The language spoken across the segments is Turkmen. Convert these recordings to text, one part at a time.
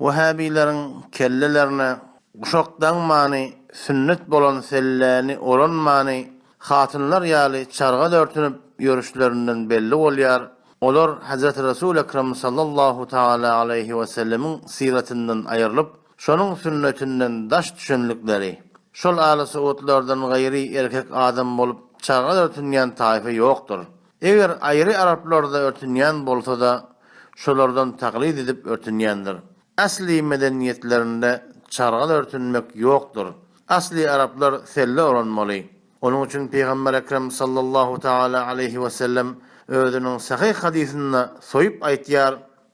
Wehhabyleriň kellelerine guşak daňmany, sünnet bolan selläni oranmany, hatynlar ýaly çarga dörtünip ýörüşlerinden belli bolýar. Olar Hezreti Resul Ekrem sallallahu tagala aleýhi we sellemiň syratyndan aýrylyp, şonuň sünnetinden daş düşenlikleri. Şol aly-saudlardan gaýry erkek adam bolup çarga dörtünýän taýfa ýokdur. Eger aýry araplarda örtünýän bolsa-da, şolardan taklyt edip örtünýändir. Asly medeniýetlerinde çargal örtünmek ýokdur. Asly araplar selle oranmaly. Onuň üçin Pygamber Ekrem sallallahu tagala aleýhi wesellem özüniň sahyh hadysynda soýup aýtýar,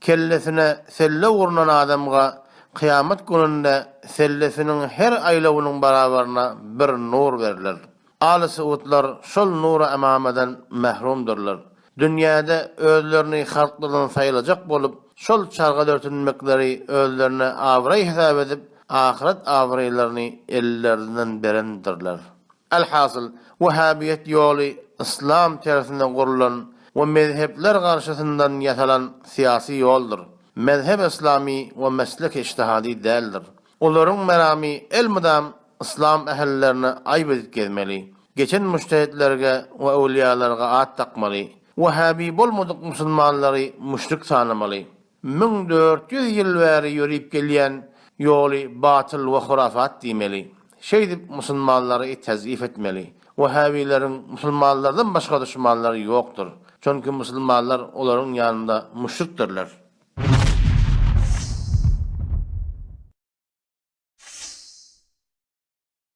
Kellesine selle urnan adamga kyýamat gününde sellesiniň her aýlawynyň barabaryna bir nur berler. Aly Suudlar şol nura-emamadan mährumdyrlar. Dünýäde özlerini halklardan saýylajak bolup, şol çarga dörtünmekleri özlerine abraý hesap edip, ahyret abraýlaryny ellerinden berendirler. Alhasyl, wehhabiýet ýoly yslam tersine gurlan we mezhepler garşysyndan ýasalan syýasy ýoldur. Mezhep yslamy we meslek iştihady däldir. Olaryň meramy elmydam yslam ählilerine aýp edip gezmeli, geçen mujtehitlerge we öwlüýalarga at dakmaly, wehhabi bolmadyk musulmanlary müşrik sanamaly. Müň dört ýüz ýyl bäri ýörüp gelýän ýoly batyl we hurafat diýmeli. Şeýdip musulmanlary tezif etmeli. Wehhabyleriň musulmanlardan başga duşmanlary ýokdur. Çünki musulmanlar olaryň ýanynda müşrikdirler.